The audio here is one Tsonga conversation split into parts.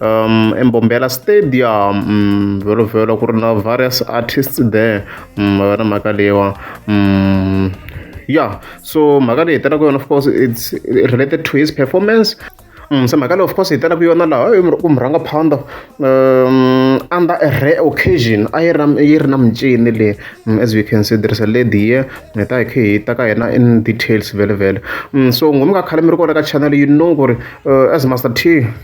um, embombela stadium um, vhelo vhelo ku ri na various artists there um, va na mhaka leyiwa um, yeah so mhaka leyi hi tela ku yona of course it's related to his performance Mm, se mhaka leyi of course hi tela ku yona laha ku mi rhanga phanda um, under a rare occasion a yi yi ri na mincini leyi mm, as we can see there is a lady here hi ta hi khe hi ta ka yena in details vele vele mm, so ngomi ka khale mi ri kona ka channel you know ku ri uh, as master t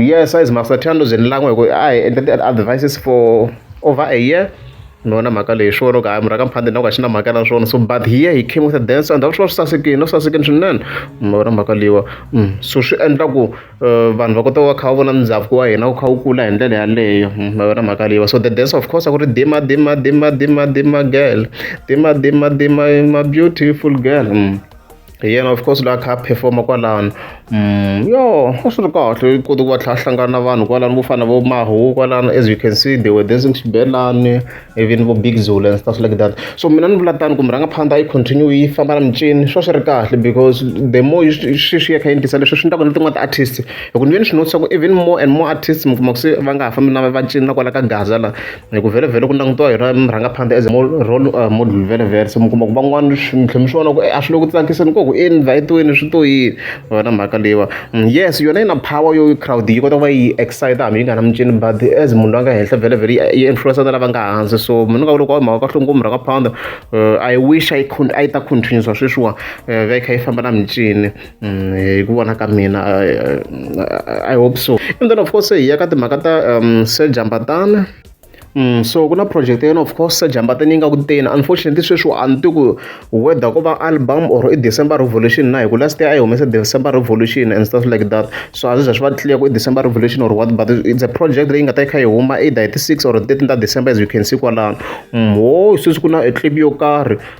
yes size master Thando ze ni lan'we hi ku a hi endla ti-advances for over a year ni vona mhaka leyi hi swi vona ku hayi murhi ka mphande na ku a xi na mhaka na swona so but here he came with a dance and a swi va swi sasekile no sasekile swinene mi vona mhaka leyiwa so swi endla ku vanhu va kota ku va kha va vona ndhavuko wa hina wu kha wu kula hi ndlela yaleyo mi vona mhaka leyiwa so the dance of course a ku ri dima dima dima dima dima girl dima dima dima ma beautiful girl. hi yena of course la kha a performa kwalano mm, yo a swi ri kahle u kote ku va tlha hlangana na vanhu kwalano vo fana vo mahu kwalano as you can see they were dancing xibelani even vo big zulu and stuff like that so mina ni vula tani ku mi rhanga phanda yi continue yi famba na micini swa swi ri kahle because the more swi swi ya kha yi ndlisa leswi swi ndlaku na tin'wana ti-artist hi ku ni ve ni swi notisa ku even more and more artist mi kuma ku se va nga ha fambi na va cini na kwala ka gaza la hi ku vhele-vhele ku langutiwa hi ra murhangaphandle as role uh, model vhele-vhele se mi kuma ku van'wana mi tlhe mi swi vona ku eh, a swi le ku tsakiseni koku i invhayitiweni swi to yini wena mhaka leyiwa mm, yes yona yi na power yo crowd yi kota ku va yi excite hambi yi nga na mincini but as munhu loyi a nga henhla vhele-vhele yi influensa na lava nga hansi so mina nga vula ku mhaka kahle ngopfu murhangaphandle uh, i wish i ta continuisa sweswiwa uh, va yi kha yi famba na mincini Mm, hi ku vona ka mina i hope so and then of course hi ya ka timhaka ta um se jambatana Mm, so ku na project yena of course jambatana yi nga ku teni unfortunately sweswi a ni ti ku whether ku va album or i december revolution na hi ku last year a yi humese december revolution and stuff like that so a swi za swi va clear ku i december revolution or what but it's a project leyi nga ta yi kha yi huma either hi ti-six or thirteen ta december as you can see kwalano mm, wo sweswi ku na a clip yo karhi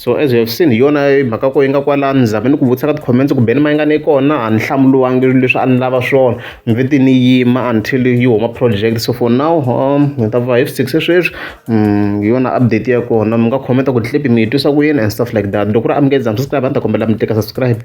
so as you have seen hi yona mhaka ko yi nga kwalani ni zame ni ku vutisa ka ti-comments ku beni ma yi nga ni kona a ni hlamuriwangi leswi a ni lava swona ni ve ti ni yima until yi huma project so for now um ni ta va hi six sweswi um hi yona update ya kona mi nga commenta ku clip mi yi twisa ku yini and stuff like that loko ku ri a mi nge za mi subscribe a ni ta kombela mi tlika subscribe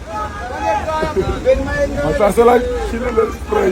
masasela xilo lexi pray